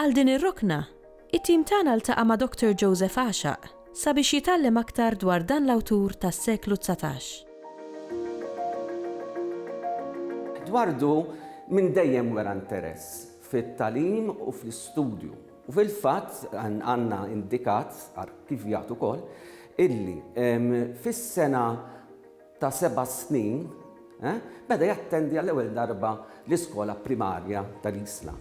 Għal din ir-rokna, it-tim tagħna ltaqa' ma' Doctor Joseph Għaxaq sabiex jitgħallem aktar dwar dan l-awtur tas-seklu dsatax. Eduardo minn dejjem wera interess fit-tagħlim u fl-istudju u fil-fatt għandna indikat, arkivjat ukoll, illi fis-sena ta' seba' snin, beda jattendi għall-ewwel darba l-iskola primarja ta' Risla.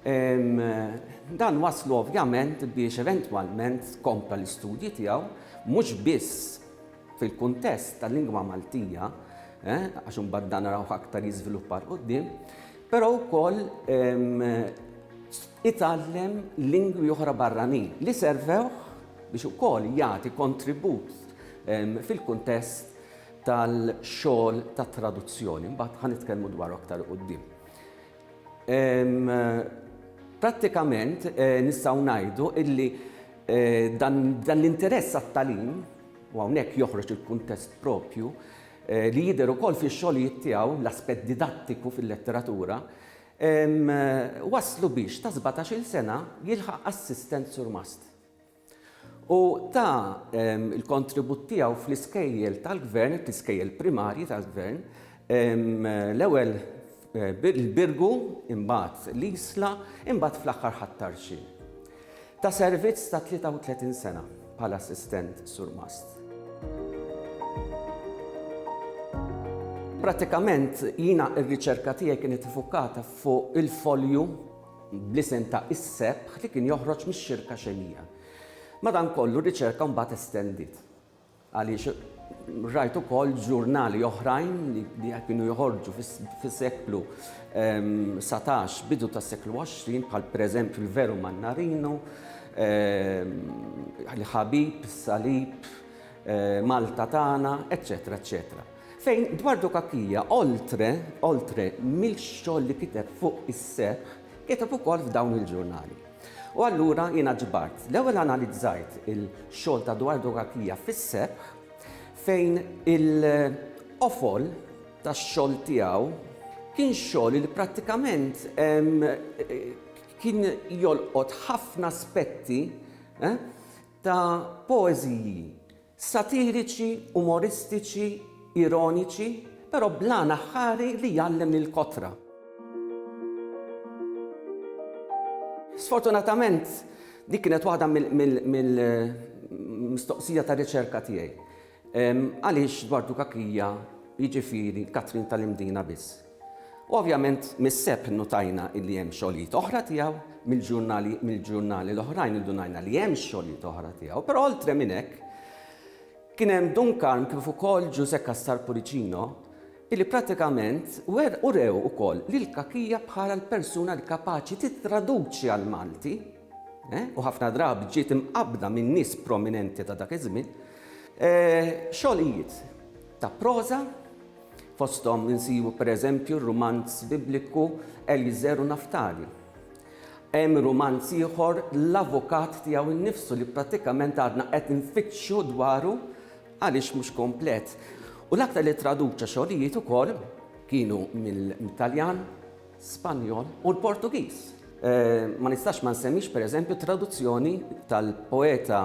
Dan wasslu ovvjament biex eventwalment kompla l-istudji tiegħu mhux biss fil-kuntest tal-lingwa Maltija, għax imbagħad dan narawh aktar jiżviluppa 'l quddiem, però wkoll itgħallem lingwi oħra barranin li servewh biex ukoll jagħti kontribut fil-kuntest tal-xogħol ta' traduzzjoni, mbagħad ħa nitkellmu dwar aktar quddiem. Prattikament eh, nistgħu ngħidu illi eh, dan, dan l-interess għat-talim, u hawnhekk joħroġ il-kuntest propju, eh, li jidher ukoll fix-xogħlijiet tiegħu l-aspett didattiku fil-letteratura, waslu biex ta' 17-il sena jilħaq assistent surmast. u ta l-kontribut tiegħu fl-iskejjel tal-gvern, fl-iskejjel primarji tal-gvern, l-ewwel il-Birgu, imbagħad l-Isla, imbagħad fl-aħħar ħat-Tarxien. Ta' servizz ta' 33 sena bħala assistent surmast. Pratikament jiena r-riċerka tiegħi kienet ifukkata fuq il-folju bl-isem ta' is-sebħ li kien joħroġ mix-xirka xemija. Madankollu r-riċerka mbagħad estendiet. Għaliex rajt ukoll ġurnali oħrajn li kienu joħorġu fis-seklu 19 ehm, bidu tas-seklu 20 bħal pereżempju l-Veru Mannarino, ehm, l-Ħabib, Salib, eh, Malta tagħna, eċċetera, eċċetera. Fejn dwar Dukakija, oltre, oltre, mill-xogħol li kiteb fuq is-sebħ, kiteb ukoll f'dawn il-ġurnali. U allura jiena ġbart, l-ewwel analizzajt il-xogħol ta' dwar Dukakija fis-sebħ fejn il-qofol tax-xogħol tiegħu kien xogħol li prattikament kien jolqot ħafna aspetti ta' poeżiji satiriċi, umoristiċi, ironiċi, però bl-għan aħħari li jgħallem lill-kotra. Sfortunatament, dik kienet waħda mill-mistoqsija tar-riċerka tiegħi. Għaliex dwar Dukakija, jiġifieri Katrin tal-Imdina biss? U ovvjament mis-Sebt innutajna illi hemm xogħlijiet oħra tiegħu, mill-ġurnali mill-ġurnali l-oħrajn indunajna li hemm xogħlijiet oħra tiegħu, però oltre minn hekk kien hemm Dun Karm kif ukoll Ġużè Cassar Puricino illi pratikament wer urew ukoll lil Cachia bħala l-persuna li kapaċi tittraduċi għall-Malti eh, u ħafna drabi ġiet imqabbda minn nies prominenti ta' dak iż-żmien eh, xogħlijiet ta' proża Fosthom insibu pereżempju r-rumanz Bibliku Eliezer u Naftali. Hemm rumanz ieħor L-Avukat tiegħu nnifsu li prattikament għadna qed infittxu dwaru għaliex mhux komplet. U l-aktar li traduċa xogħlijiet ukoll kienu mill-Taljan, Spanjol u l-Portugiż. Ma nistax ma nsemmix pereżempju t-traduzzjoni tal-poeta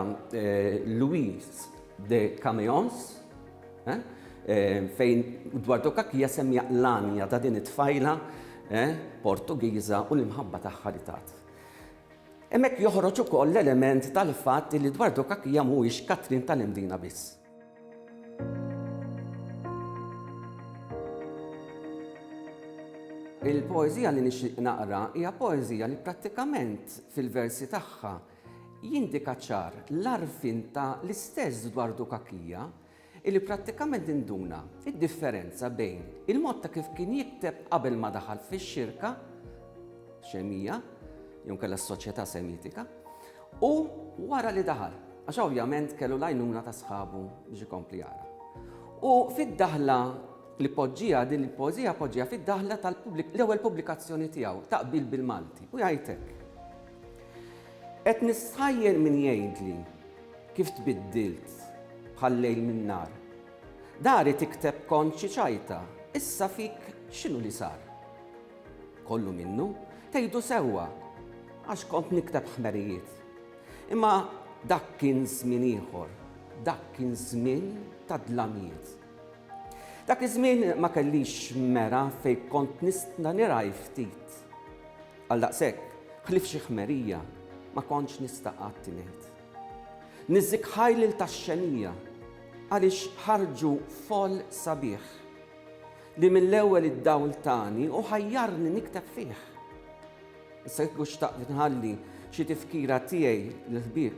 Louis de Caméons, Fejn dwar Dokakija semmija l-għanja ta' din it-tfajla Portugiża u l-imħabba tagħha li tat. Hemmhekk joħroġ ukoll l-element tal-fatt li dwar Dokakija mhuwiex Katrin tal-Imdina biss. Il-poeżija li nixtieq naqra hija poeżija li prattikament fil-versi tagħha jindika ċar l-għarfien ta' l-istess dwar Dokakija, illi prattikament induna d-differenza bejn il-mod ta' kif kien jikteb qabel ma daħal fix-xirka xemija, jew inkella s-soċjetà Semitika, u wara li daħal, għax ovvjament kellu l-għajnuna ta' sħabu biex ikompli jara. U fid-daħla li poġġija din il-poeżija poġġija fid-daħla tal-ewwel pubblikazzjoni tiegħu, Taqbil bil-Malti, u jgħid hekk. Qed nistħajjel min jgħidli Kif tbiddilt bħal-lejl min-nhar. Dari tikteb kont xi ċajta, issa fik x'inhu li sar? Kollu minnu, tgħidu sewwa, għax kont nikteb ħmerijiet. Imma dak kien żmien ieħor, dak kien żmien ta' dlamijiet. Dak iż-żmien ma kellix mera fejn kont nista' nirgħi ftit. Għaldaqshekk, ħlief xi ħmerija, ma kontx nista' qatt ingħid. Niżżik ħajlil tax-xenija għaliex ħarġu foll sabiħ li mill-ewwel id-dawl tani u ħajjarni nikteb fih. Issa kieku xtaqt inħalli xi tifkira tiegħi lill-ħbieb,